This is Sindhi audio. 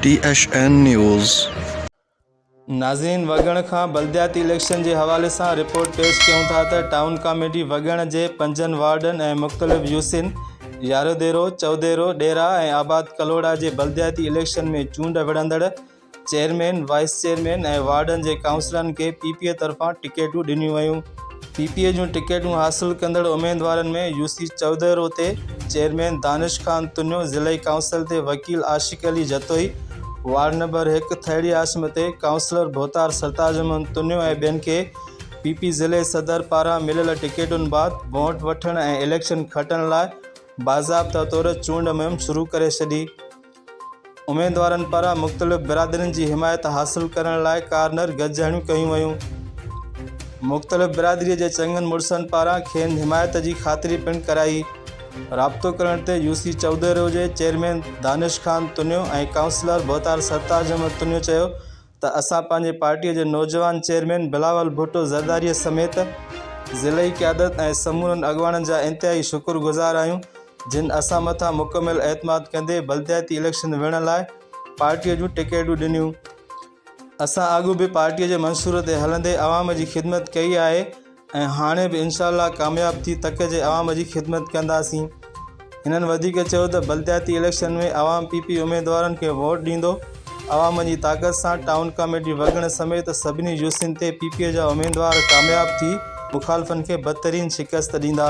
ٽي ايڇ اين نيوز. ناظرين وڳڻ کان بلدياتي اليڪشن جي حوالي سان رپورٽ پيش ڪيون ٿا ته ٽائون ڪاميٽي وڳڻ جي پنجن وارڊن ۽ مختلف يوسين، ياروديرو، چئوديرو، ڏيرا ۽ آباد ڪلهوڙا جي بلدياتي اليڪشن ۾ چونڊ وڙهندڙ چيئرمين، وائيس چيئرمين ۽ وارڊن جي ڪائونسلرن کي پي پي اي طرفان ٽڪيٽون ڏنيون ويون. پي پي اي جون ٽڪيٽون حاصل ڪندڙ اميدوارن ۾ U C Chaudhry Roti, chairman Danish Khan Tunio, ضلعي ڪائونسل تي وڪيل عاشق علي جتوئي، وارڊ نمبر هڪ ٿهڙي عاصمه تي ڪائونسلر ڀوتار سرتاج احمد تنيو ۽ ٻين کي پي پي ضلعي صدر پاران مليل ٽڪيٽن بعد وونٽ وٺڻ ۽ اليڪشن کٽڻ لاء باضابطه طور چونڊ مهم شروع ڪري ڇڏي. اميدوارن پاران مختلف برادرين جي حمايت حاصل ڪرڻ لاء ڪارنر گڏجاڻيون ڪيون ويون. مختلف برادري جي چڱن مڙسن پاران کين حمايت جي خاطري پڻ ڪرائي. رابطو ڪرڻ تي يو سي چئودهرو جي چيئرمين دانش خان تنيو ۽ ڪائونسلر ڀوتار سرتاج احمد تنيو چيو ته اسان پنهنجي پارٽيء جي نوجوان چيئرمين بلاول ڀٽو زرداريء سميت ضلعي قيادت ۽ سمورن اڳواڻن جا انتهائي شڪر گذار آهيون جن اسان مٿان مڪمل اعتماد ڪندي بلدياتي اليڪشن وڙهڻ لاء پارٽيء جون ٽڪيٽون ڏنيون. اسان اڳ به پارٽيء جي منصور تي هلندي عوام جي خدمت ڪئي آهي ۽ هاڻي به انشاء الله ڪامياب ٿي تڪ جي عوام جي خدمت ڪنداسين هنن وڌيڪ چيو ته بلدياتي اليڪشن ۾ عوام پي پي اميدوارن کي ووٽ ڏيندو عوام جي طاقت سان ٽائون ڪاميٽي وڳڻ سميت سڀني يوسين تي پي پي جا اميدوار ڪامياب ٿي مخالفن کي بدترين شڪست ڏيندا.